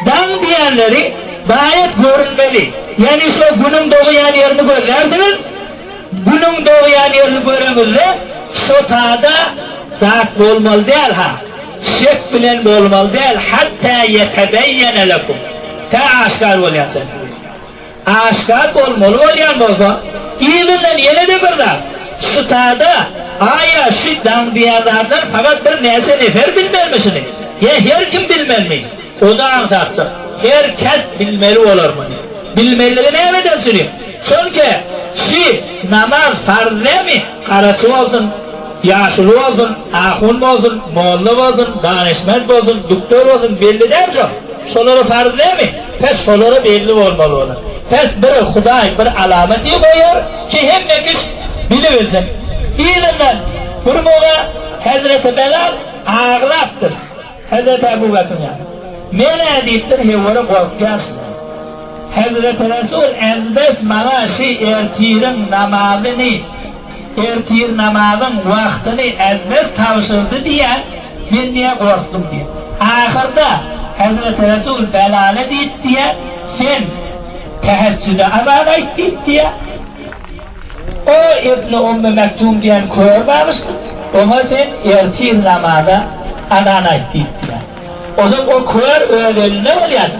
Daň diýenleri gaýet görünmeli. Ýagny şo günüň dogýan ýerini gözlärsiňiz. Günüň dogýan ýerini göreňizde şo tada zat bolmaly däl ha. Şek bilen bolmaly däl, hatta ýetebeýýene lekum, tä aşkar bolýança diýdi. Aşgaz bolmaly bolýan bolsa, yzyndan ýene-de bir zat, Ştada, aýa, şi daň diýen zatlar fakat bir näçe nefer bilmelmi şuny? Ýa her kim bilmelmi? O-da aňsatjak. Her kes bilmeli bolar muny. Bilmeliligi nämeden çüri? Çünki, şi, namaz farz dämi? Garaçy bolsun, ýaşuly bolsun, ahun bolsun, molla bolsun, danyşment bolsun, duktor bolsun, belli däl şo. Şolara farz näme? Bes şolara belli bolmaly bolar. Bes bir Hudaý bir alamaty goýar ki hemme kiş bilibilsin. Yzyndan bir molla Hezreti Belal aglapdyr Hezreti Abu Bekriň ýanyna. Men-ä diýipdir hewwara gorkýaşdym. Hezreti Resul ez bes maňa şi ertiriň namazyny. Ertir namazyň wagtyny Azmes tabşyrdy diýýä, men diýýä gorkdum diýip. Ahyrda Hezreti Resul Belale diýip diýýä, Sen tähejjüde azan aýt diýip diýýä. O Ibni Ummi Mektum diýen kör bagyşdyr, oňa sen ertir namaza azan aýt diýip diýýä. Ozal o kör öz elinde bolýa-da.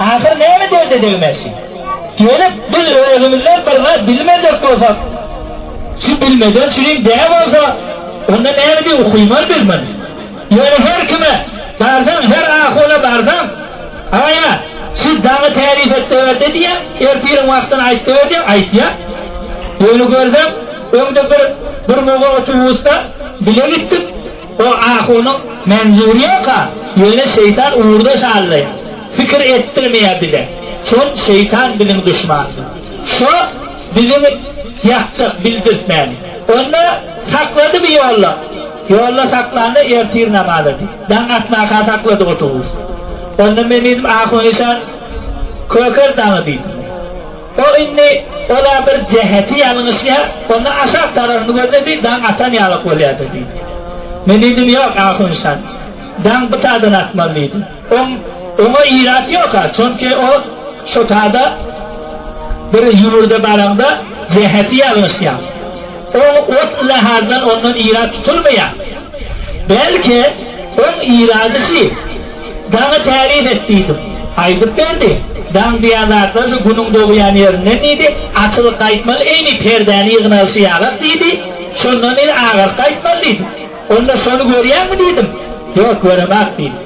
Ahyr näme derde degmezşi? Gelip, biz özümizler bir zat bilmejek bolsak, şu bilmeden şunyň deňi bolsa, onda näme diýip ukymaly biz muny? Ýöne her kime barsaň, her ahuna barsaň, Aga-a, şu daňy täzif etdewerde diýýär, ertiriň wagtyny aýtdewer diýýär, aýtýar. Ýöne görseň, öňde bir, bir moga otobusda bile gitdik. O ahunyň menzuri ýok-a, ýöne şeýtan ugurdaş hallaýar. Pikir etdirmeýär bize. Şol şeýtan biziň duşmanymyz. Şo bizi ýakjak bildirtmäni. Onda saklady bir ýolda. Ýolda saklanda ertir namaza diý. Daň atmaka saklady otobus. Onda men diýdim, Ahun işan Köker daňy diýdim men. Ol indi ol-a bir jäheti ýalňyşýar, onda aşak tararyny gözle diý, daň atan ýalyk bolýar-da diýdi. Men diýdim, Ýok, ahun şan, daň bu taýdan atmaly diýdim. Oň oňa ilat ýok-a, çünki o şo taýda bir ýüwürde baraňda jäheti ýalňyşýar. Oň ot lahazdan ondan ilat tutulmaýar. Belki, oň ilady şi. Daňy täzip et diýdim. Aýdyp berdi. Daň diýen zatlar şu günüň dogýan ýerinden diýdi. Açylyp gaýtmaly eýni perdäni ýygnalyşy ýalak diýdi. Şondan diýdi agaryp gaýtmaly diýdi. Onda şony görýäňmi diýdim. Ýok göremok diýdi.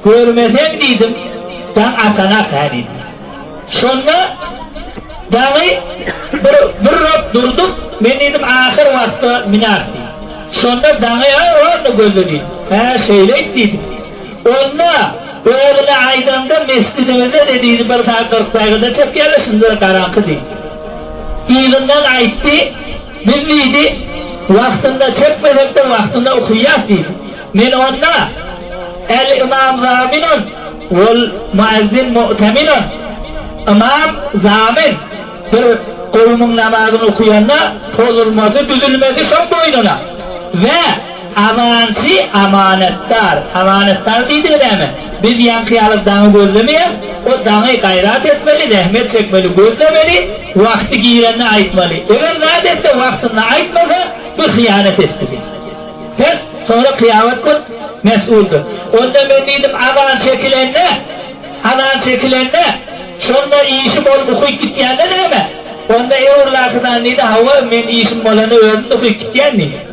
Görmeseň diýdim daň atanok hä diýdi. Şonda daňy bir birrok durduk men diýdim ahyr wagtda münäs diýdim. Şonda daňy ä onda gözle diýdi. Hä şeýleýt diýdim. Onda, dogryny aýdanda, mesjidimizde dediýdi, bir sagat kyrk dagyda çekýärler, şunda-da garaňky diýdi. Yzyndan aýtdy, Biz diýdi, wagtynda çekmesek-de, wagtynda okaýas diýdi. Men onda, El imam zaminun wal muezzin mu'teminun, Imam, zamin, bir kowumyň namazyny okaýanda, pozulmasy, düzülmesi şoň boýnuna we Amançy, amanetdar. Amanetdar diýdigi näme? Biz ýaňky ýaly daňy gözlemeýäs. O daňy gaýrat etmeli, zähmet çekmeli, gözlemeli, wagty girende aýtmaly. Eger zat etse, wagtynda aýtmasa, bu hyýanat etdi diýdi. Bes, soňra kyýamat gün mesguldyr. Onda men diýdim, azan çekilende, azan çekilende, şonda işi bolup ukyp gitýände näme? Onda Ewrlakydan diýdi, Hawa, men işim bolanda özüm-de ukyp gitýän diýdi.